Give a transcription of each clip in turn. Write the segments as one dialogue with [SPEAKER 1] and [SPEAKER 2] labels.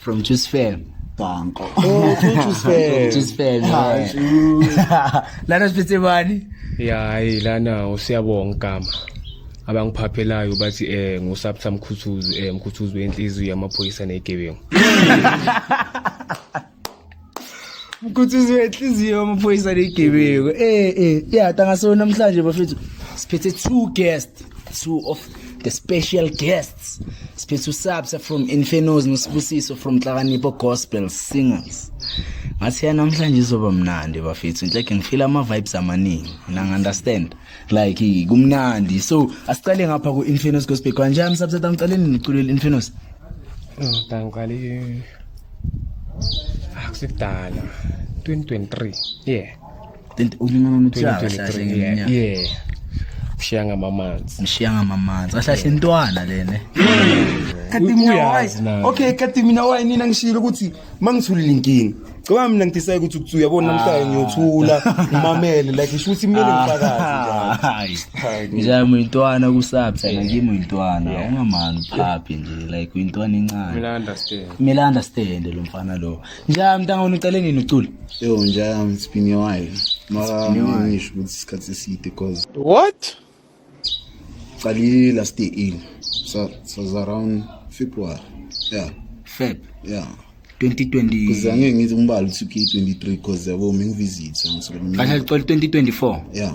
[SPEAKER 1] from
[SPEAKER 2] Juice Fair Danko oh from
[SPEAKER 1] Juice Fair
[SPEAKER 3] Juice Fair
[SPEAKER 2] lana siphethe bani yayi
[SPEAKER 4] lana usiyabonga igama abangiphaphelayo bathi eh ngusaptha mkhuthuzi eh mkhuthuzi wenhliziyo yamaphoyisa negebengu
[SPEAKER 2] mkhuthuzi wenhliziyo amaphoyisa negebeko eh eh yata ngasona namhlanje bafethu siphethe two guests two of the special guests siphethe usabsa from infernos nosibusiso from hlakanipho gospel singers ngathi ya namhlanje izoba mnandi bafethu nhleke ngifila ama-vibes amaningi nangi-understand like kumnandi so asiqale ngapha ku-infernos gospel kanjani sabsata ngicaleni niculele infernos Oh, danke, Ali.
[SPEAKER 4] akusibdala ah, 2023 yeah ulimana
[SPEAKER 2] nothiyashaye
[SPEAKER 4] yeah ushiya ngamamanzi ngishiya ngamamanzi ahlahle intwana
[SPEAKER 2] lene kati
[SPEAKER 3] mina wazi okay kati mina wayi nina ngishilo ukuthi mangithulile inkinga Caba mina ngidecide ukuthi ukuthi uyabona namhlanje ah. ngiyothula ngimamele like isho ukuthi kumele ah. ngifakaze nje. Hayi. Ngijamu
[SPEAKER 2] intwana kusaphi ngimi intwana ungamani phaphi nje. like uyintwana encane kumele understand kumele understand lo mfana lo njalo mntanga wena ucele nini ucula yo njalo it's
[SPEAKER 1] been a while mara ngisho ukuthi isikhathi eside because what qalile last year in so so was around february yeah
[SPEAKER 2] feb
[SPEAKER 1] yeah 2020
[SPEAKER 2] kuze angeke ngithi
[SPEAKER 1] umbali uthi 23 because yabo mengivisit ngisuka mina kanti licole 2024
[SPEAKER 2] yeah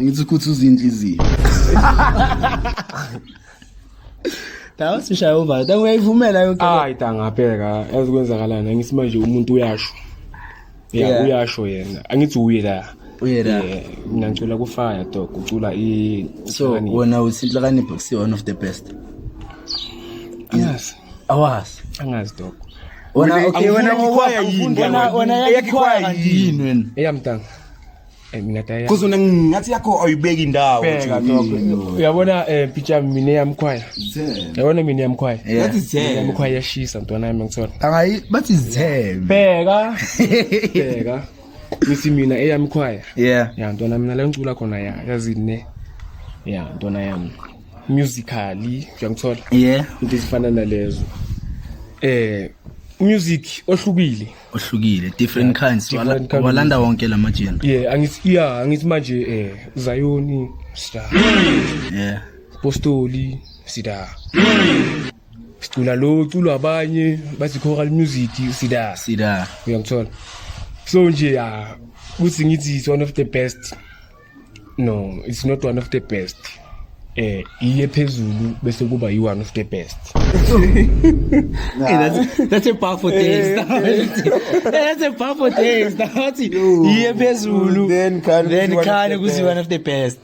[SPEAKER 3] Ngithi ukuthi
[SPEAKER 1] uzinhliziyo.
[SPEAKER 2] Dawa sishaya uvala. Dawa uyayivumela yonke. Hayi tangabheka
[SPEAKER 4] ezikwenzakalana ngithi manje umuntu uyasho. Yeah, yeah.
[SPEAKER 2] uyasho yena.
[SPEAKER 4] Angithi uye la. Uye la.
[SPEAKER 2] Mina ngicula ku
[SPEAKER 4] fire dog ucula i So
[SPEAKER 2] wena uthi inhlakanipho kusi one of the best. Yes.
[SPEAKER 4] Awas.
[SPEAKER 2] Angazi dog.
[SPEAKER 4] Wena okay
[SPEAKER 2] wena ngokwaya yini? Wena
[SPEAKER 3] wena yakhe
[SPEAKER 2] kwaya yini wena? Eyamtanga.
[SPEAKER 4] Eh, mina taya Cause una ngathi yakho
[SPEAKER 3] awuyibeki indawo Bheka lokho. Mm.
[SPEAKER 4] uyabona eh pitcha mina yamkhwaya yabona mina yamkhwaya Ngathi zithele. yamkhwaya
[SPEAKER 3] yashisa
[SPEAKER 4] mntwana yami ngithola Akayi bathi zithebe.
[SPEAKER 2] bheka bheka
[SPEAKER 4] ngithi mina eyamkhwaya Yeah. ya ntwana
[SPEAKER 2] mina la ngicula
[SPEAKER 4] khona ya yazini ne ya ntwana yami musically uyangithola Yeah. into ezifana
[SPEAKER 2] nalezo
[SPEAKER 4] eh music ohlukile ohlukile different
[SPEAKER 2] yeah, kinds different wala, walanda wonke la majina yeah angithi yeah angithi
[SPEAKER 4] manje eh Zion sida
[SPEAKER 2] yeah Apostoli
[SPEAKER 4] sida sicula lo culwa abanye bathi choral music sida sida uyangithola so nje ya kuthi ngithi it's one of the best no it's not one of the best eh iye phezulu bese kuba yi one of the best hey,
[SPEAKER 2] that's, that's a powerful taste that's a powerful taste that's iye phezulu then can then
[SPEAKER 3] can kuzi
[SPEAKER 2] one of the best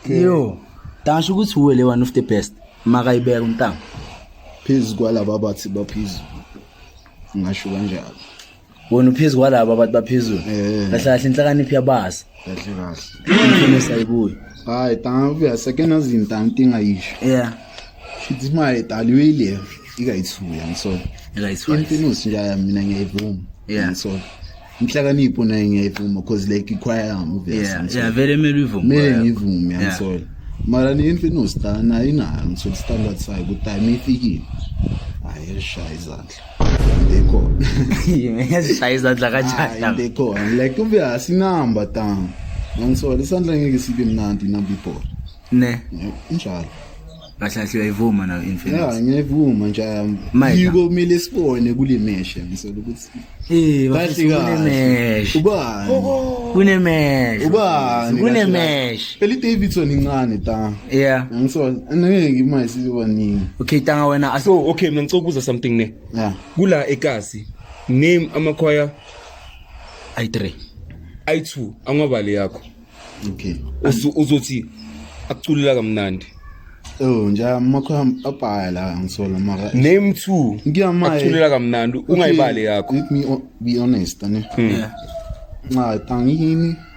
[SPEAKER 2] okay. yo tasho ukuthi uwe le one of the best makayibeka umntanga phezulu
[SPEAKER 1] kwalaba bathi baphezulu ngasho kanjalo wena uphezu
[SPEAKER 2] kwalaba abantu baphezulu Eh. kahle kahle inhlakaniphi yabazi kahle
[SPEAKER 1] kahle imfino sayibuya
[SPEAKER 2] hayi tangavuya
[SPEAKER 1] seke nazinta ntingayisho yeah
[SPEAKER 2] shithi imali
[SPEAKER 1] edaliwile ikayithuya ngisona ekayiswayo imfinusi
[SPEAKER 2] nje aya mina
[SPEAKER 1] ngiyayivuma Yeah. ngisona inhlakanipho naye ngiyayivuma cause like ikhwaya yami uvesa yeah yeah ngisona vele mele
[SPEAKER 2] uyivume kumele ngivume Yeah.
[SPEAKER 1] angisola mara ni imfinusi ta nayo inayo ngisola standard sayo ukuthi time ifikile hayi elishaye izandla into ekhona ngiyazishaya
[SPEAKER 2] izandla kanjani into ekhona like ube
[SPEAKER 1] asinamba tam ngisola isandla ngeke sibe mnandi inamba ibhola ne injalo kahle
[SPEAKER 2] kahle uyayivuma nayo infinite ya ngiyayivuma
[SPEAKER 1] nje yiko kumele
[SPEAKER 2] sibone
[SPEAKER 1] kule meshe ngisola ukuthi eh kahle
[SPEAKER 2] kahle ubani
[SPEAKER 1] kunemeshe
[SPEAKER 2] ubani
[SPEAKER 1] kunemeshe
[SPEAKER 2] eli Davidson
[SPEAKER 1] incane ta yeah ngso
[SPEAKER 2] angeke
[SPEAKER 1] imali sizoba nini okay tanga wena
[SPEAKER 2] so okay mina ngicela ukubuza
[SPEAKER 3] something ne yeah kula
[SPEAKER 1] ekasi
[SPEAKER 3] name amakhwaya
[SPEAKER 2] ayi3
[SPEAKER 3] ayi2 angwabali yakho okay
[SPEAKER 1] uzothi
[SPEAKER 3] akuculela kamnandi Oh nje
[SPEAKER 1] amakho abhaya la ngisola mara name 2
[SPEAKER 3] ngiyamaye akuculela
[SPEAKER 1] kamnandi
[SPEAKER 3] ungayibali yakho let me be
[SPEAKER 1] honest ane hmm.
[SPEAKER 2] yeah nxa
[SPEAKER 1] tangini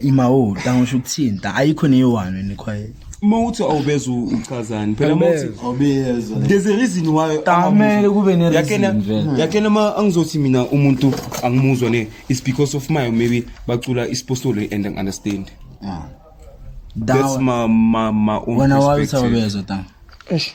[SPEAKER 2] ima o ta ngisho ukuthini ta ayikho neyiwani ni quiet uma uthi awubeza
[SPEAKER 3] uchazani phela uma uthi awubeza there's
[SPEAKER 1] a reason why
[SPEAKER 3] tamele kube ne
[SPEAKER 2] reason vele yakena
[SPEAKER 3] ma
[SPEAKER 2] angizothi
[SPEAKER 3] mina umuntu angimuzwa ne is because of my maybe bacula isipostolo and i understand ah
[SPEAKER 1] that's
[SPEAKER 3] my my my own wena wawuthi awubeza
[SPEAKER 2] ta
[SPEAKER 3] eish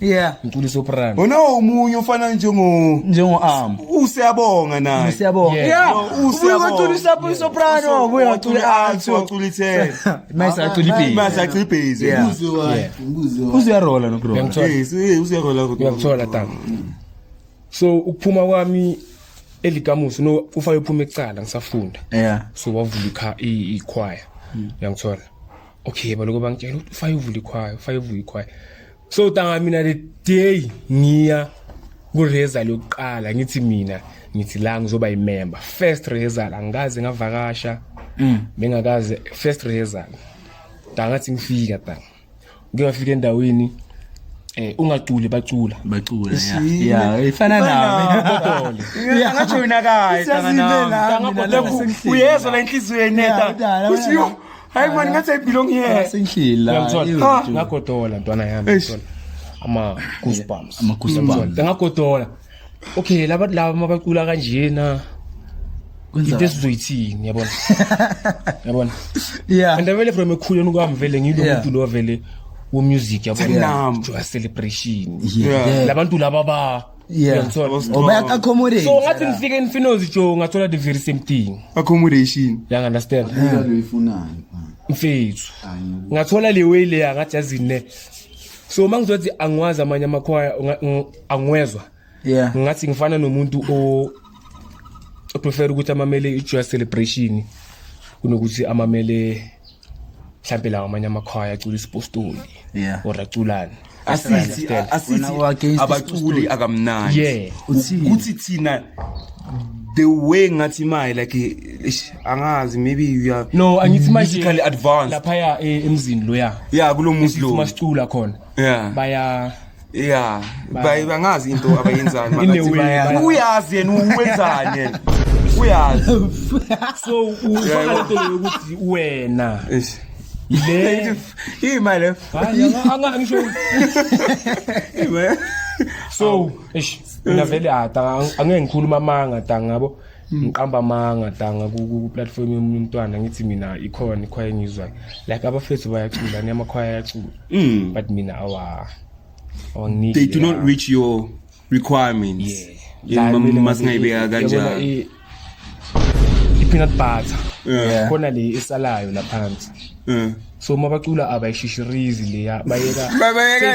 [SPEAKER 2] yeah ngicula isoprano wena
[SPEAKER 4] omunye ufana
[SPEAKER 3] njengo njengo
[SPEAKER 2] arm usiyabonga naye
[SPEAKER 3] usiyabonga yeah
[SPEAKER 2] usiyacula
[SPEAKER 4] isapo
[SPEAKER 2] isoprano ubuye acula alto acula ithe
[SPEAKER 3] mase acula ibhezi
[SPEAKER 2] mase acula
[SPEAKER 3] ibhezi
[SPEAKER 2] uzwa
[SPEAKER 1] uziyarola no bro
[SPEAKER 2] yes uziyarola
[SPEAKER 3] kodwa ngiyakuthola tata
[SPEAKER 4] so ukuphuma kwami elikamuso no ufa yophuma ecala ngisafunda yeah so
[SPEAKER 2] wavula
[SPEAKER 4] ikhwaya hmm. ngiyangithola okay baloko bangitshela ukuthi ufa yovula ikhwaya ufa yovula ikhwaya so tanga mina the day ngiya kureza lokuqala ngithi mina ngithi la ngizoba yimember first rehearsal angikaze ngavakasha mm. bengakaze first rehearsal ntangathi ngifika ta ngike ngafika endaweni eh ungaculi bacula bacula ya
[SPEAKER 2] ya ifana nami kodole angathi wena
[SPEAKER 3] kayi tanga nami uyezwa la inhliziyo yeneta uthi hayi mani ngathi i belong here senhlila uyamthola
[SPEAKER 2] ah.
[SPEAKER 4] ngagodola ntwana yami ntwana ama goosebumps ama goosebumps ngagodola okay laba laba mabacula kanjena into esizoyithini yabona yabona yeah
[SPEAKER 2] and vele from ekhuleni
[SPEAKER 4] kwami vele ngilo muntu lo vele wo music yabona celebration labantu
[SPEAKER 2] laba ba
[SPEAKER 4] Yeah. Uyangithola? Or baya accommodate.
[SPEAKER 2] so ngathi ngifike infinozi
[SPEAKER 4] jo ngathola the very same thing Accommodation. yang
[SPEAKER 3] understand Imidlalo
[SPEAKER 4] ifunani.
[SPEAKER 1] mfethu
[SPEAKER 4] ngathola le way leya ngathi yazine so uma ngizothi angiwazi amanye amakhwaya unga- ng- angiwezwa Yeah.
[SPEAKER 2] ngathi ngifana nomuntu
[SPEAKER 4] o oprefer ukuthi amamele i-joy celebration kunokuthi amamele mhlawumbe lawo amanye amakhwaya acula isipostoli Yeah. or
[SPEAKER 2] aculani
[SPEAKER 4] asithi Understand?
[SPEAKER 3] asithi Wena u-against
[SPEAKER 2] abaculi isipostoli. akamnandi
[SPEAKER 3] Yeah. Uthini?
[SPEAKER 4] ukuthi thina
[SPEAKER 3] the way ngathi maye like eish, angazi maybe you are no angithi manje musically
[SPEAKER 4] advanced laphaya
[SPEAKER 3] eh, emzini
[SPEAKER 4] loya yeah kulo muzi sithi lo
[SPEAKER 3] masicula khona
[SPEAKER 4] yeah baya ya
[SPEAKER 3] baye bangazi into abayenzani In a makathi way, baya- baya-
[SPEAKER 4] uyazi
[SPEAKER 3] yena uwenzani yena uyazi so
[SPEAKER 4] ufaka lento leyo ukuthi wena Eish.
[SPEAKER 3] le
[SPEAKER 4] imali le
[SPEAKER 3] Hayi, anga- anga-
[SPEAKER 4] angisho imali so eish mina vele ah, tanga, angeke ngikhuluma amanga tanga yabo Mm. ngiqamba amanga danga ku-platform yomunye umntwana ngithi mina ikhona ikhwaya engizwayo like abafethu bayacula ni amakhwaya ayacula mm. but mina awa they do not reach
[SPEAKER 3] your requirements
[SPEAKER 4] masingayibeka
[SPEAKER 3] kanjalo
[SPEAKER 4] i-peanut butter khona le
[SPEAKER 3] esalayo
[SPEAKER 4] laphansi mm. so uma bacula abayishishirizi leya bayeka
[SPEAKER 3] bayeka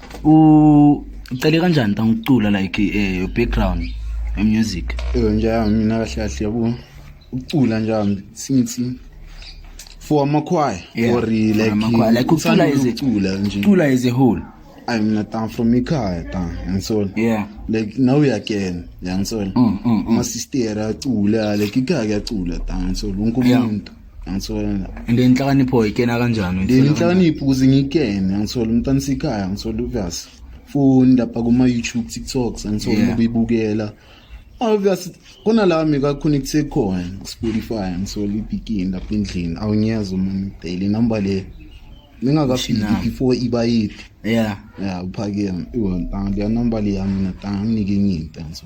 [SPEAKER 2] ucele kanjani ta ngicula like eh, your background your music yebo nje yami mina
[SPEAKER 1] kahle kahle yabo ucula nje yami since for amakhwaya Yeah, or for like amakhwaya. Like ukucula uthanda as a- ukucula
[SPEAKER 2] nje cula as a whole ayi mina ta
[SPEAKER 1] from ikhaya ta ngisona yeah like now uyakena yangisona Mm, mm, mm. amasistera acula like ikhaya kuyacula ta ngisona wonke Yeah. umuntu angithola and inhlakanipho
[SPEAKER 2] ikena kanjani inhlakanipho ukuze
[SPEAKER 1] ngikene angithola umntana sikhaya angithola obvious foni lapha kuma YouTube TikToks angithola yeah. ubibukela obvious kona la mika connecte khona Spotify angithola ibigini lapha endlini awunyazi uma ngidele number le ningakafiki before iba yithi yeah yeah
[SPEAKER 2] uphakeme
[SPEAKER 1] iwona tanga le number le yami na tanga nginike nginta so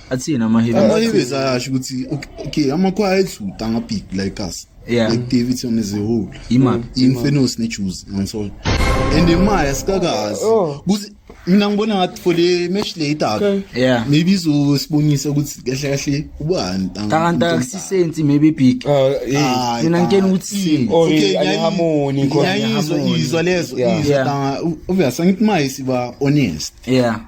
[SPEAKER 2] athini
[SPEAKER 1] amahibi
[SPEAKER 2] amahibi ayasho ukuthi
[SPEAKER 1] okay amakhwaya edluta ngabig like us yeah. like davidson
[SPEAKER 2] as a
[SPEAKER 1] whole infamous
[SPEAKER 2] nejews
[SPEAKER 1] angisona and imaya sikakazi oh. kuthi mina ngibona ngathi for le match le idaka yeah maybe
[SPEAKER 2] izosibonisa
[SPEAKER 1] ukuthi kahle kahle ubani kanti akusisensi
[SPEAKER 2] maybe big ah, mina ngikena ukuthi okay ngiyahamoni
[SPEAKER 3] khona ngiyizwa lezo
[SPEAKER 1] izwa
[SPEAKER 2] obvious
[SPEAKER 1] angithi maye siba honest yeah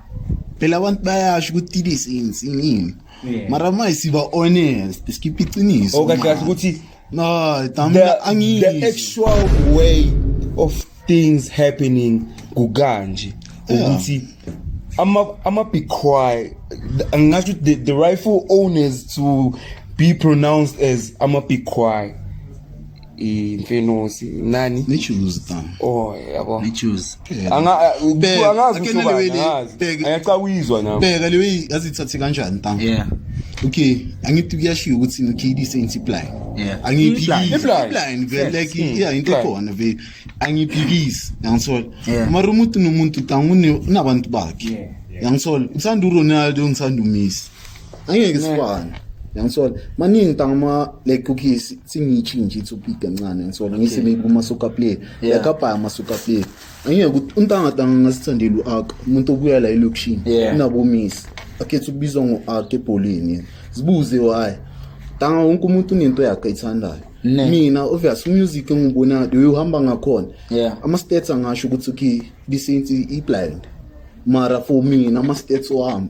[SPEAKER 2] phela abantu
[SPEAKER 1] bayasho ukuthi it is insini Yeah. mara ma siba honest sikhiphe iqiniso okay man. kahle ukuthi
[SPEAKER 3] no the, tamina
[SPEAKER 1] the angiyizwa
[SPEAKER 3] actual way of things happening kukanje Yeah. ukuthi ama ama big cry angasho ukuthi the, the rightful owners to be pronounced as ama big cry imfenosi nani nichuze tam
[SPEAKER 1] oh yabo
[SPEAKER 3] nichuze
[SPEAKER 2] anga angazi ukuthi
[SPEAKER 3] ayacawizwa nami bheka lewe azithathe
[SPEAKER 1] kanjani tam yeah
[SPEAKER 2] okay
[SPEAKER 1] angithi kuyashiya ukuthi ngikhidise insipline yeah angiphikisi
[SPEAKER 2] insipline
[SPEAKER 1] vele
[SPEAKER 3] like hmm.
[SPEAKER 1] yeah into khona vele angiphikisi yangisola uma umuntu
[SPEAKER 2] nomuntu
[SPEAKER 1] tam unabantu bakhe yangisola usanda uRonaldo ngisanda uMessi angeke sifane yangisola maningi tangama like cookies singitshi nje ithu big kancane yangisola ngise ngikuma soka play like abaya masoka play angeke ukuthi untanga tanga ngasithandela uak umuntu obuya la elokushini unabomisi akhetha ukubizwa ngo-ak ebholeni zibuze why tanga wonke umuntu unento yakhe ayithandayo mina obvious umusic engiwubonayo leyo uhamba ngakhona ama-stats angasho ukuthi okay bisensi i-blind mara for mina ama-stats wami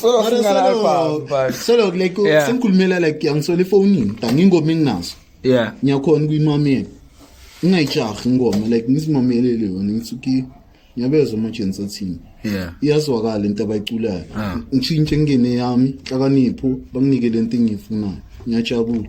[SPEAKER 1] Solo Mara singana solo- alpha, but- solo like Yeah. sengikhulumela like yangisola efonini tani ingoma enginazo Yeah. ngiyakhona
[SPEAKER 2] ukuyimamela
[SPEAKER 1] ngingayijahi ingoma like ngizimamelele yona ngisuke ngiyabezwa amajensi athini Yeah. iyazwakala
[SPEAKER 2] into
[SPEAKER 1] abayiculayo Ah. ngishintshe ngingene yami nhlakanipho banginike le nto engiyifunayo ngiyajabula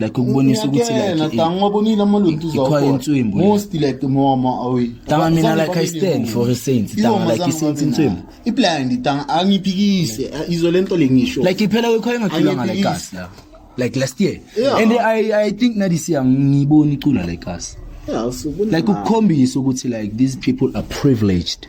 [SPEAKER 2] like ukubonisa ukuthi like tangibonile amaluntu
[SPEAKER 1] zakhona ikhwa inswimbu most like mama awi tanga mina like i
[SPEAKER 2] stand for a saint tanga like isaint inswimbu iblind tanga
[SPEAKER 1] angiphikise eh, izwe lento lengisho like iphela kwekhwa engakhula
[SPEAKER 2] ngale gas la like last year yeah. and i i think na this year ngibona icula like us yeah so like ukukhombisa ukuthi like these people are privileged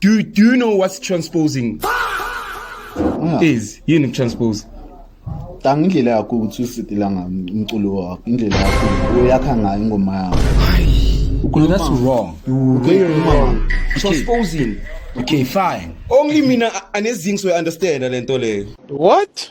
[SPEAKER 1] Do,
[SPEAKER 3] do you know what's transposing? Ah. Is yini transpose? Tanga
[SPEAKER 1] indlela yakho ukuthi usidila ngomculo wakho, indlela yakho uyakha ngayo ingoma yakho. Ukhuluma
[SPEAKER 2] that's wrong. You very wrong.
[SPEAKER 3] Transposing. Okay,
[SPEAKER 2] fine. Only mina
[SPEAKER 3] anezingso I understand lento leyo. What?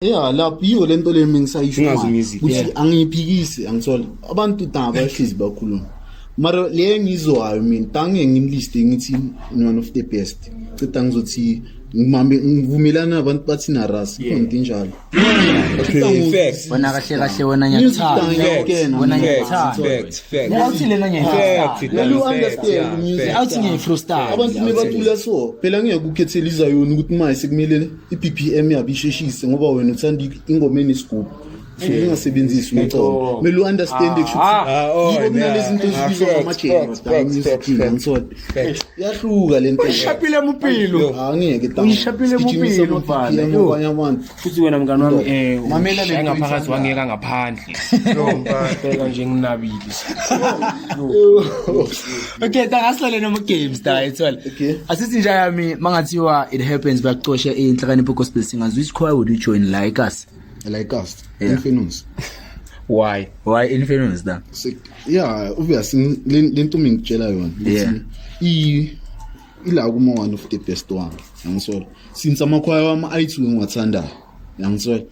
[SPEAKER 1] ya lapho yiyo le nto le mina Singazi ngisayisho ukuthi yeah.
[SPEAKER 3] angiyiphikisi
[SPEAKER 1] angithole abantu daba bahlezi bakhuluma mara le engizwayo mina tange ngimliste ngithi one of the best cita ngizothi ngimambe ngivumelana nabantu bathi naras Yeah. khona into enjalo Okay,
[SPEAKER 3] facts. Wena kahle kahle wena
[SPEAKER 2] ngiyakuthanda. Facts, Ngiyakutshena wena facts, ngiyakuthanda. facts, facts. Mina uthi lena
[SPEAKER 3] Facts, ngiyayithanda.
[SPEAKER 2] Dana, Mina facts, u-understand yeah,
[SPEAKER 1] music. facts. Awuthi ngiyayifrustrate.
[SPEAKER 2] abantu mebatula
[SPEAKER 1] so phela ngeke ukhethele izayona ukuthi maye sekumele i-BPM yabo isheshise ngoba wena uthanda ingoma enesigubhu so ungasebenzisi umcomo kumele u-understand kusho ukuthi yibo kunalezi zinto ezibizwa ngamajeyahluka le ntouyishapile mupilo
[SPEAKER 2] angeke uyishapile
[SPEAKER 1] mupilo
[SPEAKER 2] bhana
[SPEAKER 1] futhi wena
[SPEAKER 4] mngane wami um ngaphakathi
[SPEAKER 1] wangeka ngaphandle
[SPEAKER 4] Bheka nje nginabile.
[SPEAKER 2] Okay, tangasilale noma games da ethwala. Okay. Asithi nje
[SPEAKER 1] yami
[SPEAKER 2] mangathiwa it happens bakucoshe inhlakanipho gospel singers which choir would you join like us? Like us.
[SPEAKER 1] Yeah. Infamous. Why?
[SPEAKER 2] Why infamous da? So, yeah,
[SPEAKER 1] obviously lento mingitshela yona. Yeah. I
[SPEAKER 2] ila
[SPEAKER 1] kuma one of the best one. Yangisolo. Since amakhwaya wami ayithu ngiwathandayo. Yangisolo.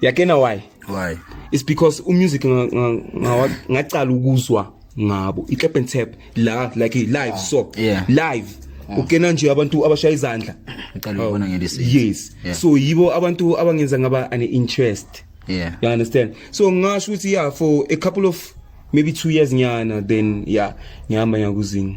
[SPEAKER 3] yakena why why it's
[SPEAKER 2] because
[SPEAKER 3] umusic ngacala ukuzwa ngabo i-clap and tap la like live ah, so yeah. live
[SPEAKER 2] ah.
[SPEAKER 3] ukena nje abantu abashaya izandla ngicela oh, ukubona
[SPEAKER 2] ngelisi yes yeah. so
[SPEAKER 3] yibo
[SPEAKER 2] abantu
[SPEAKER 3] abangenza ngaba an interest yeah you understand
[SPEAKER 2] so
[SPEAKER 3] ngasho ukuthi yeah for a couple of maybe 2 years nyana then yeah ngihamba nyakuzinga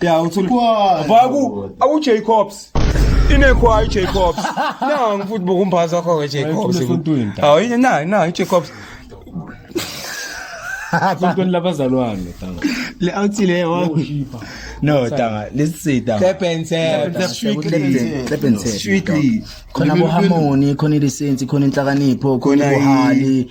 [SPEAKER 3] Ya uthi kwa vaku awu Jacobs inekwa i Jacobs na ngifuthi bokumbaza kho ke Jacobs awu yini na na i Jacobs
[SPEAKER 4] Kuntoni labazalwane tanga le awuthile
[SPEAKER 2] wa No tanga lisida Sebenze
[SPEAKER 3] sebenze strictly khona bo
[SPEAKER 2] harmony khona ilisensi khona inhlakanipho khona bohali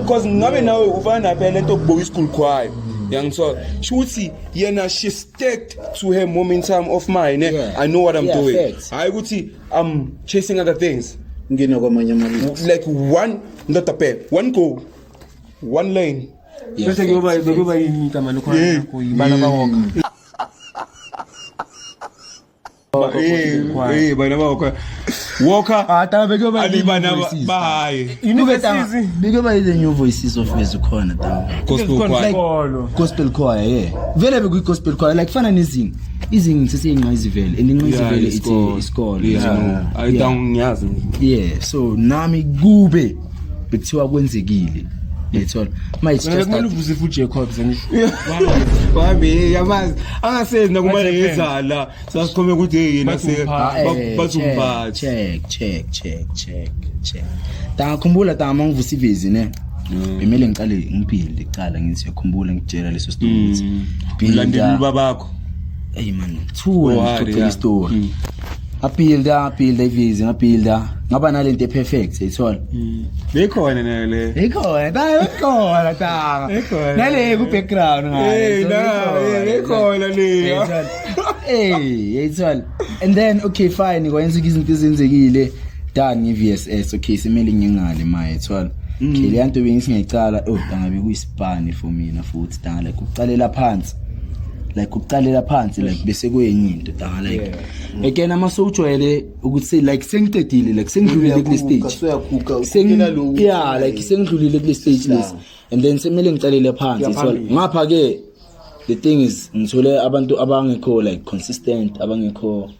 [SPEAKER 3] because
[SPEAKER 2] ngabe nawe
[SPEAKER 3] ufana naphela lento yokubuka isigulu khwayo yangisola shuthi yena she stacked to her momentum of mine eh? yeah. i know what i'm yeah,
[SPEAKER 2] doing
[SPEAKER 3] hayi
[SPEAKER 2] ukuthi i'm
[SPEAKER 3] chasing other things ngina kwamanye amalungu
[SPEAKER 1] like one
[SPEAKER 3] ndoda bheka one goal one lane bese kuyoba
[SPEAKER 4] bekuba yini igama lokho yibala bawoka Eh,
[SPEAKER 3] eh, bana ba Walker. Walker. Ah, taba beke ba
[SPEAKER 2] Ali bana ba
[SPEAKER 3] haye.
[SPEAKER 2] You know better. Beke ba the new voices of Yesu khona taba. Gospel choir.
[SPEAKER 3] Gospel choir,
[SPEAKER 2] yeah. Vele beku gospel choir like fana nezingi. Izingi sesiyinqa izivele and inqa izivele ithi isikole. Yeah. I don't
[SPEAKER 3] ngiyazi. Yeah, so
[SPEAKER 2] nami kube bekuthiwa kwenzekile yethola uma it's just kumele that uvuze futhi Jacobs
[SPEAKER 4] and wabe
[SPEAKER 3] yamazi angasenzi nakumane What's happened? ngezala sasikhombe ukuthi hey yena Bathi se umphathi. Ah, ba- eh, bathi check, umphathi check check check check
[SPEAKER 2] check tangakhumbula tama ngivusa ivezi ne bemele ngiqale ngiphinde kuqala ngithi yakhumbula ngitshela leso story ukuthi Mm. Phinda. Ulandela
[SPEAKER 3] ubabakho. Hey man,
[SPEAKER 2] two and to tell story. Mm. Ngabhilda, ngabhilda ivizi, ngabhilda. Ngaba nalento eperfect, ayithola. Mm. Bekhona
[SPEAKER 3] nayo le. Bekhona, nayo
[SPEAKER 2] bekhona tanga. Bekhona. Nale ku background ngayo. Hey, na,
[SPEAKER 3] bekhona le. Hey, ayithola.
[SPEAKER 2] And then okay fine, kwenza izinto ezenzekile. Dan ngi-VSS okay simele ngingale maye thola mm. okay le nto bengisi ngiyicala oh dangabe kuyisibani for mina futhi dala kuqalela phansi like ukuqalela phansi like bese kwenye into danga like again ama sewujwayele ukuthi like sengicedile like sengidlulile kule stage Sengi- yeah like sengidlulile kule stage lesi and then semele ngiqalele phansi so ngapha ke the thing is ngithole abantu abangekho like consistent abangekho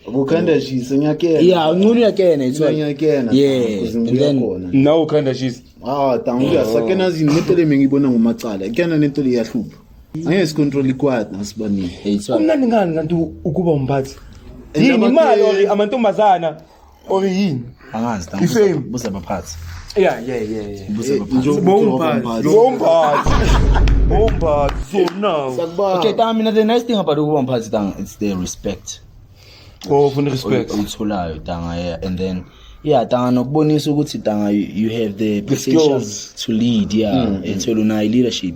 [SPEAKER 2] Kukhanda
[SPEAKER 1] shisa ngiyakena. Yeah, unculu uyakena
[SPEAKER 2] it's right. Ngiyakena. Yeah.
[SPEAKER 1] And then
[SPEAKER 2] now ukhanda shisa.
[SPEAKER 3] Ah, tangu ya
[SPEAKER 1] sakena zini nento le mengibona ngomacala. Ikena nento le yahlupha. Angeke sicontrol ikwad nasibani. It's right. Kumnandi ngani
[SPEAKER 2] kanti
[SPEAKER 3] ukuba umphathi? Yini imali or amantombazana or yini? angazi na Ifame.
[SPEAKER 2] buze
[SPEAKER 3] abaphathi Yeah,
[SPEAKER 2] yeah,
[SPEAKER 3] yeah, yeah. buze
[SPEAKER 1] abaphathi Bombard. Bombard. Bombard.
[SPEAKER 3] So now. Sakubamba. okay tanga mina the
[SPEAKER 2] nice thing about ukuba mphathi tanga it's the respect Oh,
[SPEAKER 3] funa respect. oy- oyitholayo tanga
[SPEAKER 2] yeah and then yeah tanga nokubonisa ukuthi tanga you you have the potential skills. to lead
[SPEAKER 3] yeah
[SPEAKER 2] ethola unayo leadership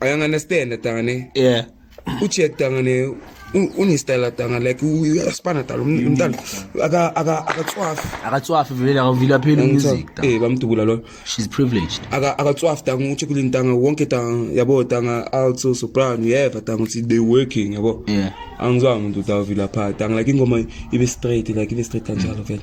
[SPEAKER 1] uyanganestenda
[SPEAKER 3] tangane yeah
[SPEAKER 2] ucheck tangane
[SPEAKER 3] unistela tanga like uyasibana dala um, umntana akatswafi akatswafi vele
[SPEAKER 2] akavile aphele umuzik eh bamdubula loyo
[SPEAKER 3] she's privileged
[SPEAKER 2] akatswafi tanga
[SPEAKER 3] ucheck kule ntanga wonke tanga yabo tanga also soprano yeva tanga uthi they working yabo yeah angizwa
[SPEAKER 2] umuntu
[SPEAKER 3] utavila pha tanga like ingoma ibe straight like ibe straight kanjalo vele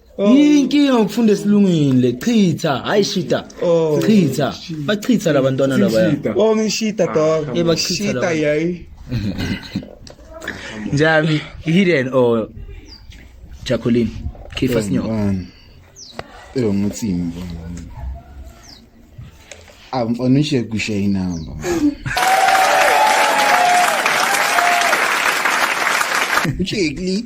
[SPEAKER 3] Inkinga
[SPEAKER 2] ukufunda esilungile chitha hayi shita Oh. chitha bachitha labantwana labaya Oh ngishita
[SPEAKER 3] dog. Eh, bachitha Shita laba. yayi.
[SPEAKER 2] njami hidden or Jacqueline Kifa Snyoko Mfana. Eyo
[SPEAKER 1] ngithi imbo. Amfana ushe kushe inamba. Uchekli.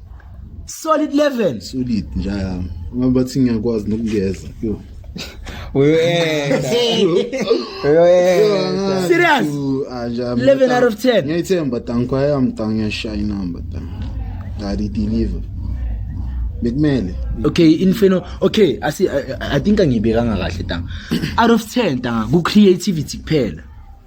[SPEAKER 1] solid
[SPEAKER 2] level solid njalo
[SPEAKER 1] uma bathi ngiyakwazi nokungeza yo uyoyenza
[SPEAKER 2] uyoyenza serious 11 out of 10 ngiyithemba tanko
[SPEAKER 1] yami tango yashaya inamba tango ngadi deliver bekumele okay
[SPEAKER 2] infino okay asi i think angibekanga kahle tanga out of 10 tanga ku creativity kuphela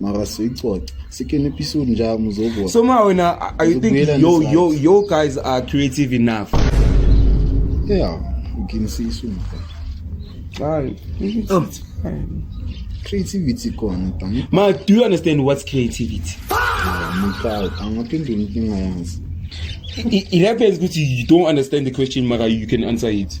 [SPEAKER 1] mara siyicoca sikene episode njalo muzobona so ma wena i think Uzobuyela
[SPEAKER 3] yo ngesakhe. yo yo guys are creative enough
[SPEAKER 1] yeah uginisisa umfana Ay, Oh. creativity khona tani ma do you understand
[SPEAKER 3] what's creativity mutau
[SPEAKER 1] angaphendula inkinga yazi it, it
[SPEAKER 3] happens ukuthi you don't understand the question mara you can answer it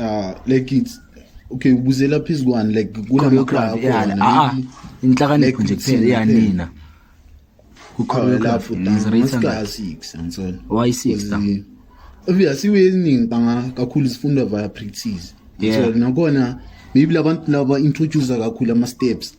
[SPEAKER 2] ah like
[SPEAKER 1] it's okay ubuzela phezu kwani like kunama crowd yani
[SPEAKER 2] ah inhlakanipho nje kuphela yanina kukhona lapho maska
[SPEAKER 1] 6 and so why 6
[SPEAKER 2] obvious asiwe
[SPEAKER 1] eziningi banga kakhulu zifunda via practice so nakona maybe labantu laba introduce kakhulu ama steps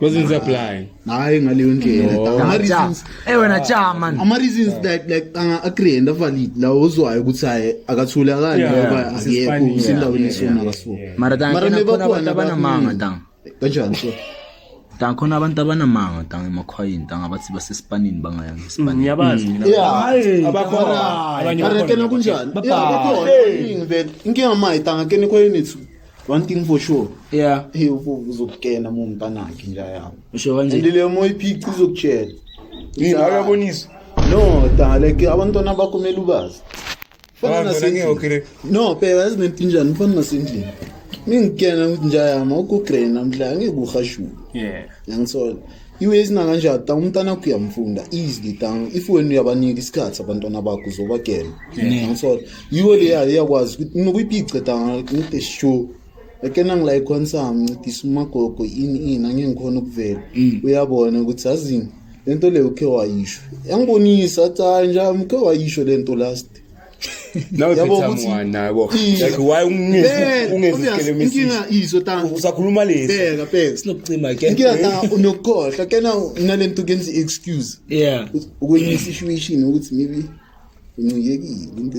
[SPEAKER 1] wasn't
[SPEAKER 3] applying hayi ngaleyo
[SPEAKER 1] ndlela eh wena cha man
[SPEAKER 2] ama reasons that like
[SPEAKER 1] anga agree and valid la uzwayo ukuthi hayi akathule akani ngoba akekho usendaweni esona kaso mara tanga mara meba
[SPEAKER 2] khona abanamanga tanga kanjani so
[SPEAKER 1] tanga khona abantu
[SPEAKER 2] abanamanga tanga emakhwayini tanga bathi basesipanini bangaya ngesipani mm, ngiyabazi mm. mina
[SPEAKER 4] hayi abakhona
[SPEAKER 1] abanye bakhona kunjani bakhona inkinga mayi tanga kene khwayini one thing for sure yeah hey ufo uzokukena mu mntanakhe nje yawo usho kanje and le moya
[SPEAKER 2] iphica
[SPEAKER 1] izokutshela yini akabonisa
[SPEAKER 3] no
[SPEAKER 1] dale ke abantwana bakho kumele ubazi fana nasendlini
[SPEAKER 3] no phela
[SPEAKER 1] ezinento njani fana nasendlini mingikena ukuthi njayama ukugrena mhla ngikuhashula yeah yangisola iwe esinakanje ata umntana wakho uyamfunda easily tang if wena uyabanika isikhathi abantwana bakho uzobagena angisole yiwo leya iyakwazi ukuthi nokuyipice tang ngide sure ake nangilayikho nsami ncedisa umagogo ini ini angeke ngikhona ukuvela mm. uyabona ukuthi azini le nto leyo ukhe wayisho yangibonisa athi hayi njami ukhe wayisho le nto last nawe
[SPEAKER 3] phethamwana yabo like why ungezisikele inkinga izo ta
[SPEAKER 1] usakhuluma lesi bheka
[SPEAKER 3] bheka sinokucima
[SPEAKER 1] ke inkinga
[SPEAKER 2] ta unokukhohlwa
[SPEAKER 1] ke na nalento kenza excuse yeah ukwenye situation ukuthi maybe uncikekile into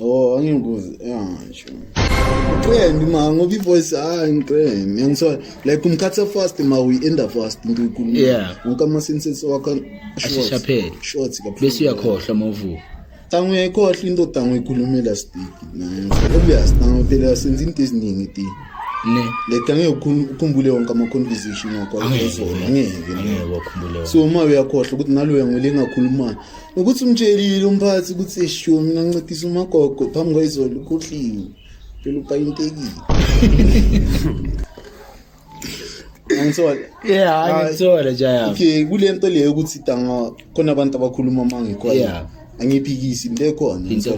[SPEAKER 1] Oh, angikuzi angisho. Uqembi ma ngoba ivoice hayi ngiqembi. Ngiyaniswa like umkhatha fast ma we end up fast into ikulu. Yeah. Ngoba ama senses wakho ashesha phela. Short kakhulu. Bese uyakhohlwa mavu.
[SPEAKER 2] Tangu uyayikhohlwa
[SPEAKER 1] into tangu ikhulumela stick nayo. Obvious tangu phela senza into eziningi ti. Ne. Le tangu ukukhumbule wonke ama conversation wakho. Angeke. Angeke.
[SPEAKER 2] So uma uyakhohlwa
[SPEAKER 1] ukuthi nalo uyangolengakhuluma. Yeah. Ukuthi umtshelile umphathi ukuthi eshiwo mina ngincedisa umagogo phambi kwayizolo ukhohliwe. Phela upayintekile.
[SPEAKER 2] Angithola. Yeah, angithola jaya. Okay, kule nto leyo
[SPEAKER 1] ukuthi tanga khona abantu abakhuluma mangekho. Yeah. angiphikisi into ekhona into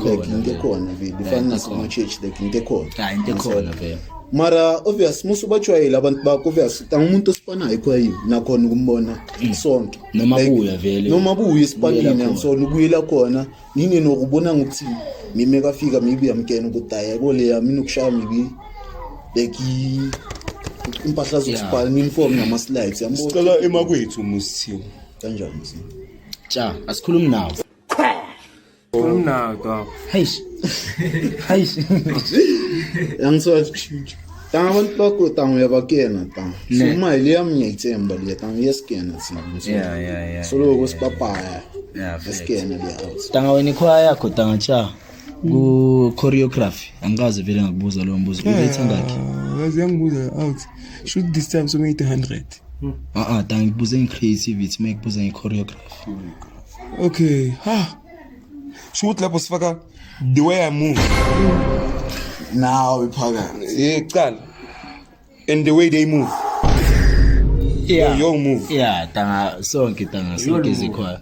[SPEAKER 1] ekhona vele ifana nasema-church like into ekhona into ekhona
[SPEAKER 2] vele mara obvious
[SPEAKER 1] musu bajwayele abantu bakho obvious angumuntu osifanayo khwayi nakhona ukumbona isonto noma buya vele noma buya esipakini angisona ubuyela khona nini nokubona ngokuthi mime kafika mibi yamkena ukuthi ayeko leya mina ukushaya mibi like impahla zokusibhala uniform nama slides yambo sicela emakwethu
[SPEAKER 3] musithiwa kanjani
[SPEAKER 1] cha
[SPEAKER 2] asikhulumi nawo
[SPEAKER 4] Kumnaka.
[SPEAKER 2] Heish.
[SPEAKER 1] Heish. Yangiswazi kushintsha. Tanga abantu bakho tanga uyabakena tanga. So imali le yami ngiyayithemba le tanga yesikena sina. Yeah yeah yeah. So lokho sipapaya. Yeah. Yesikena le house. Tanga wena ikhwaya yakho
[SPEAKER 2] tanga cha. Ku choreography angikaze vele ngakubuza lo mbuzo. Uyithanda yakhe. Ngazi yangibuza
[SPEAKER 3] out. Shoot this time so 800. Ah ah
[SPEAKER 2] tanga ngibuze nge creativity, mekubuza nge choreography. Okay.
[SPEAKER 3] Ha. Sho ukuthi lapho sifaka the way I move.
[SPEAKER 1] Nawe phakathi. Yeah, qala.
[SPEAKER 3] And the way they move. Yeah. Yo, yo move. Yeah, tanga
[SPEAKER 2] sonke tanga sonke zikhona.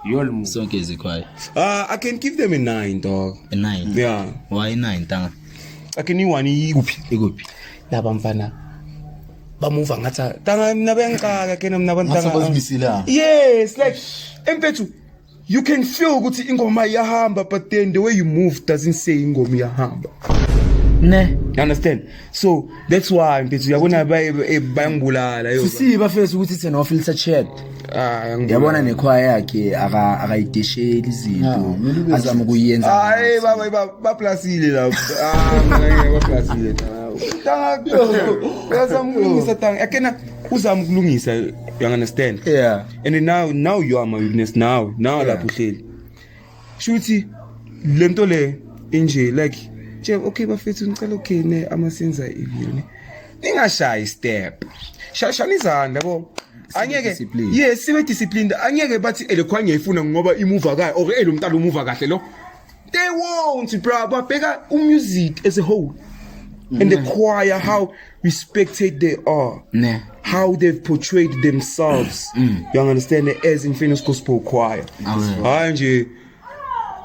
[SPEAKER 2] Yol move. Sonke zikhona. Ah, I can give
[SPEAKER 3] them a 9 dog.
[SPEAKER 2] A 9. Yeah. Why
[SPEAKER 3] 9 tanga?
[SPEAKER 2] Ake ni wani
[SPEAKER 3] ikuphi? Ikuphi? Laba mfana. bamuva ngathi tanga mina bengixaka ke mina bantanga yes like empethu you can feel ukuthi ingoma iyahamba but then the way you move doesn't say ingoma iyahamba ne
[SPEAKER 2] you understand
[SPEAKER 3] so that's why mpethu uyabona bayangibulala yo sisiba fesi ukuthi it's an
[SPEAKER 2] officer check Ah, yabona nekhwaya yakhe akayidesheli izinto ah, azama ukuyenza hayi baba
[SPEAKER 3] baplasile lapho ah, baplasile uyazama ukulungisa tanga akena uzama ukulungisa you understand yeah and now
[SPEAKER 2] now
[SPEAKER 3] you are my witness now now lapho uhleli shuthi le nto le inje like nje okay bafethu ngicela ukhene ama senza ivini ningashayi step shashani izandla yabo angeke yes sibe disciplined angeke bathi elekhwa ngiyifuna ngoba imuva kahle or elo mntana umuva kahle lo they won't bro babheka umusic as a whole and the mm. choir how we spectate they are ne how they've portrayed themselves mm. you understand as in famous gospel choir hayi nje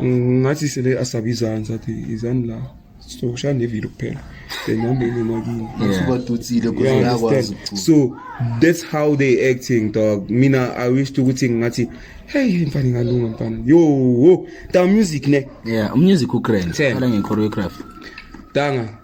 [SPEAKER 3] ngathi sele asabizana sathi izani la sokushaya nevile kuphela then nambeni makini ngasubadutsile kuze
[SPEAKER 1] yakwazi so
[SPEAKER 3] that's how they acting dog mina i wish ukuthi ngathi hey mfana ngalunga mfana yo ta music ne yeah music u
[SPEAKER 2] grand khala nge choreography danga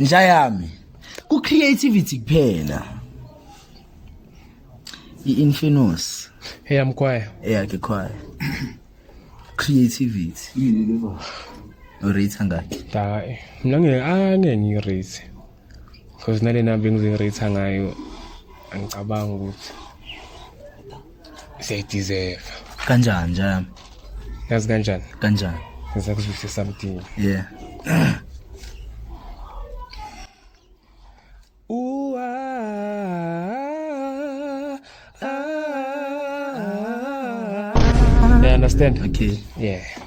[SPEAKER 2] nja yami ku creativity kuphela i infinus hey am choir
[SPEAKER 4] yeah ke
[SPEAKER 2] choir creativity yini le ba urate ngakhe hayi mina
[SPEAKER 4] ngeke angeke ngirate because nalena bengizirate ngayo angicabanga ukuthi siyayideserve kanjani nja
[SPEAKER 2] yazi kanjani
[SPEAKER 4] kanjani ngiza
[SPEAKER 2] kuzwise
[SPEAKER 4] something
[SPEAKER 2] yeah
[SPEAKER 4] understand okay yeah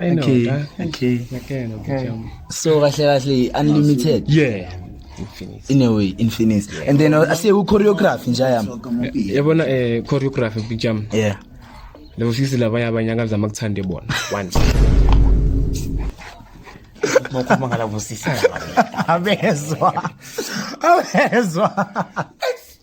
[SPEAKER 3] I know Okay,
[SPEAKER 2] that.
[SPEAKER 4] okay. Ngiyakuyena ukuthi
[SPEAKER 2] Okay. yam- so kahle kahle unlimited Yeah.
[SPEAKER 4] Infinite. in a way infinite
[SPEAKER 2] and then uh, ase uchoreography nje yami Yabona eh
[SPEAKER 4] choreography bijam. yeah
[SPEAKER 2] Lebo sisi
[SPEAKER 4] laba yabanye akazama kuthande bona. One.
[SPEAKER 3] Ngokhuluma ngala busisi. abezwa
[SPEAKER 2] abezwa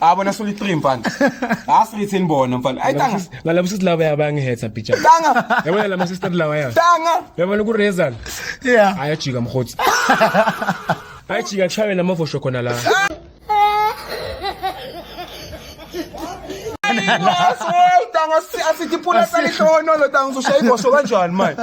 [SPEAKER 3] Ah bona suli 3 mfana. Ah srithini bona mfana. Ay tanga. Ngalabo sisi lawa
[SPEAKER 4] yabangihetha bitcha. Tanga. Yabona lama
[SPEAKER 3] sister lawa
[SPEAKER 4] ya. Tanga. Yabona ku
[SPEAKER 3] Rezan.
[SPEAKER 4] Yeah. Ayajika
[SPEAKER 2] mkhotsi.
[SPEAKER 4] Ayajika kushawe namavosho khona la. Tanga
[SPEAKER 3] asithi pula salihlonolo tanga uzoshaya igosho kanjani manje.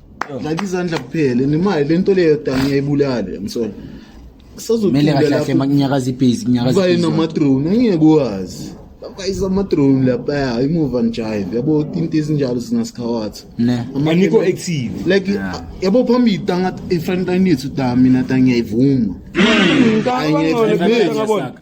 [SPEAKER 1] Dlala izandla kuphela nemali lento leyo dani yayibulale msona. Mele
[SPEAKER 2] kahle kahle makunyakaza ibhizi kunyakaza Baye ibhizi. namadrone
[SPEAKER 1] angeke wazi. Bayisa amadrone lapha ya imuva njive yabo into ezinjalo singasikhawathi. Ne. Ama- Aniko
[SPEAKER 2] active.
[SPEAKER 3] like Yeah. yabo
[SPEAKER 1] phambili tanga ifront line yethu da mina da ngiyayivuma Ngicabanga Angeke, ngcono angeke, kuphela
[SPEAKER 3] ngabona. angeke.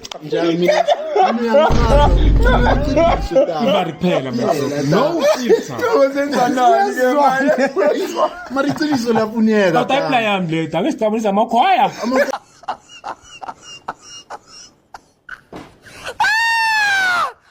[SPEAKER 1] imali
[SPEAKER 4] kuphela no filter uzenzanani ke manje
[SPEAKER 1] mara iqiniso lafuneka kodwa impla yami le dake
[SPEAKER 4] sidabulisa amakhwaya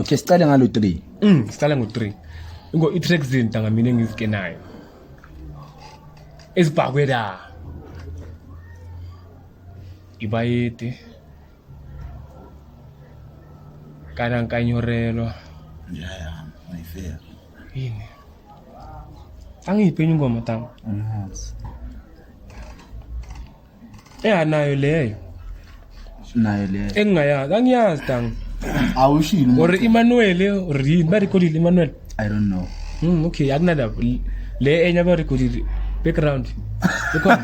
[SPEAKER 4] okay
[SPEAKER 2] siqale ngalo 3 mm siqale ngo
[SPEAKER 4] 3 ingo i track zinta ngamina engizikenayo ezibhakwe la ibayede kana nkanyorelwa yeah
[SPEAKER 1] yeah my fair yini
[SPEAKER 4] angiyiphenye ingoma tanga yes. ehanayo leyo
[SPEAKER 2] nayo leyo engingayazi angiyazi
[SPEAKER 4] dang awushilo
[SPEAKER 1] or Emmanuel
[SPEAKER 4] or yini ba recordile Emmanuel i don't
[SPEAKER 2] know mm okay akunandaba
[SPEAKER 4] le enye aba recordile background ikhona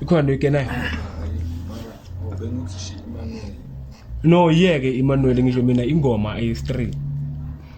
[SPEAKER 4] ikhona into ikenayo no yeke Emmanuel ngisho mina ingoma ayi straight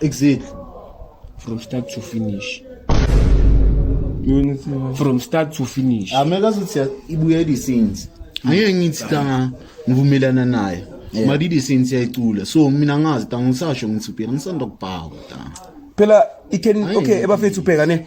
[SPEAKER 2] Exit.
[SPEAKER 1] From
[SPEAKER 4] start to finish. From start to finish. Ameka ah, sithi
[SPEAKER 1] ibuyela isinzi. Angeke ngithi ka ngivumelana naye. Yeah. Madidi since yayicula. So mina ngazi ta ngisasho ngithi ubheka ngisanda kubhaka ta. Phela
[SPEAKER 3] ikhen okay ebafethu ubheka ne.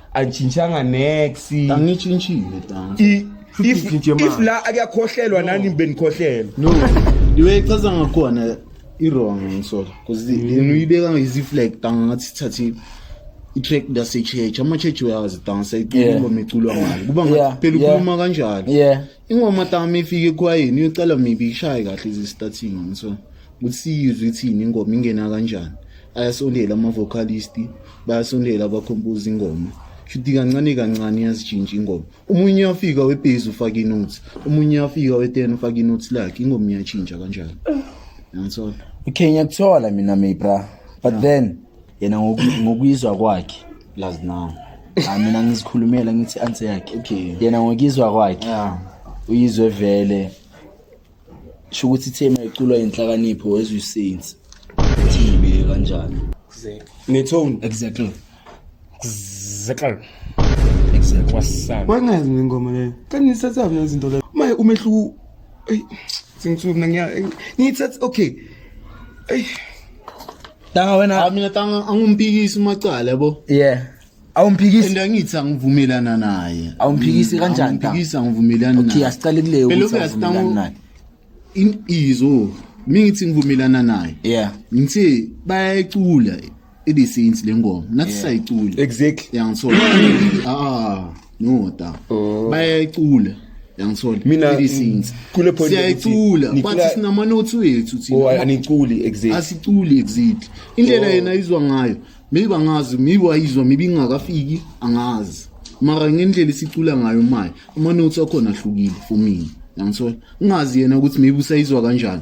[SPEAKER 3] Angitshintshanga nex. Angitshintshile tanga. I- Futhi If, ngitshintshe
[SPEAKER 1] if
[SPEAKER 3] manje. la akuyakhohlelwa nani benikhohlelwa. No. Ndiwe
[SPEAKER 1] ichaza ngakhona i-wrong ngisola because yena uyibeka ngezi-flag tanga ngathi sithathe i-track ndasechurch ama-church uyazi tanga sayiculuma Yeah. meculwa ngayo kuba Yeah, ngathi phela yeah. ukhuluma kanjalo Yeah. ingoma
[SPEAKER 2] tami
[SPEAKER 1] ifike ekhwayeni uyocela maybe ishaye kahle izi-starting on so ukuthi siyizwe ithini ingoma ingena kanjani ayasondela ama-vocalist bayasondela abakhompoza ingoma shuthi kancane kancane iyazitshintsha ingoma omunye uyafika webhezi ufake inothi omunye uyafika weten ufake inothi lakhe ingoma iyatshintsha kanjalo yangithola okay ngiyakuthola
[SPEAKER 2] mina mibra but yeah. then yena ngoku- ngokuyizwa kwakhe lazi nawe
[SPEAKER 1] Ah, mina
[SPEAKER 2] ngizikhulumela ngithi i-answer yakhe Okay. yena ngokuyizwa
[SPEAKER 1] kwakhe
[SPEAKER 2] ya uyizwe
[SPEAKER 1] vele
[SPEAKER 2] sho ukuthi ithemu yaculwa yinhlakanipho as you say it ukuthi ngibike kanjani nethoni
[SPEAKER 3] exactly
[SPEAKER 4] Zekal.
[SPEAKER 2] exactly Wasana. Wangazi
[SPEAKER 4] mina ingoma leyo.
[SPEAKER 3] Kanti nithatha mina izinto leyo. Maye umehluko ey sengithuka mina ngiya ngithatha okay. Ey
[SPEAKER 2] Tanga Ah, wena. mina tanga angimpikisi
[SPEAKER 1] umacala yabo Yeah.
[SPEAKER 2] Awumphikisi. and angithi
[SPEAKER 1] angivumelana naye Awumphikisi Mm, kanjani,
[SPEAKER 2] angimpikisi angivumelani
[SPEAKER 1] Okay, naye asicale kuleyo Phela
[SPEAKER 2] ukuthi
[SPEAKER 1] uyazi awuvumelani
[SPEAKER 2] Tanga, naye. in
[SPEAKER 1] izo mina ngithi ngivumelana naye Yeah. ngithi bayayicula i-the saints le ngoma nathi Yeah. sayicula Exactly. yangisola ah no da oh. bayayicula yangithola mina
[SPEAKER 3] kule point
[SPEAKER 1] siyayicula
[SPEAKER 3] bathi
[SPEAKER 1] sinama
[SPEAKER 3] notes wethu
[SPEAKER 1] thina oh aniculi
[SPEAKER 3] exactly asiculi exactly
[SPEAKER 1] indlela oh. yena izwa ngayo maybe angazi maybe wayizwa maybe ingakafiki angazi mara ngendlela esicula ngayo manje ama notes akhona ahlukile for mina yangithola ungazi yena ukuthi maybe usayizwa kanjani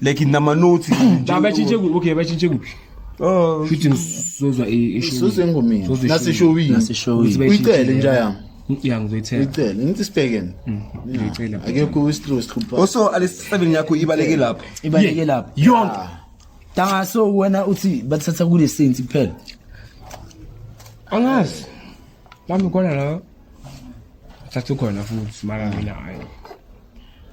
[SPEAKER 3] like nama notes nje batshintshe kuphi okay
[SPEAKER 4] batshintshe kuphi Oh, futhi
[SPEAKER 3] ngisozwa
[SPEAKER 4] ishow engomini
[SPEAKER 1] naseshowini
[SPEAKER 4] naseshowini
[SPEAKER 1] uyicele
[SPEAKER 2] nje
[SPEAKER 1] yami ya ngizoyithela
[SPEAKER 4] uyicele ngithi sibhekene mm,
[SPEAKER 1] ngiyicela
[SPEAKER 4] akekho ustress
[SPEAKER 1] khupha also alesisebenzi yakho
[SPEAKER 3] ibaleke lapho ibaleke lapho
[SPEAKER 2] yonke
[SPEAKER 4] ah. danga so
[SPEAKER 2] wena uthi bathatha kule sense kuphela
[SPEAKER 4] angazi bami khona la thatha khona futhi mara mina hayi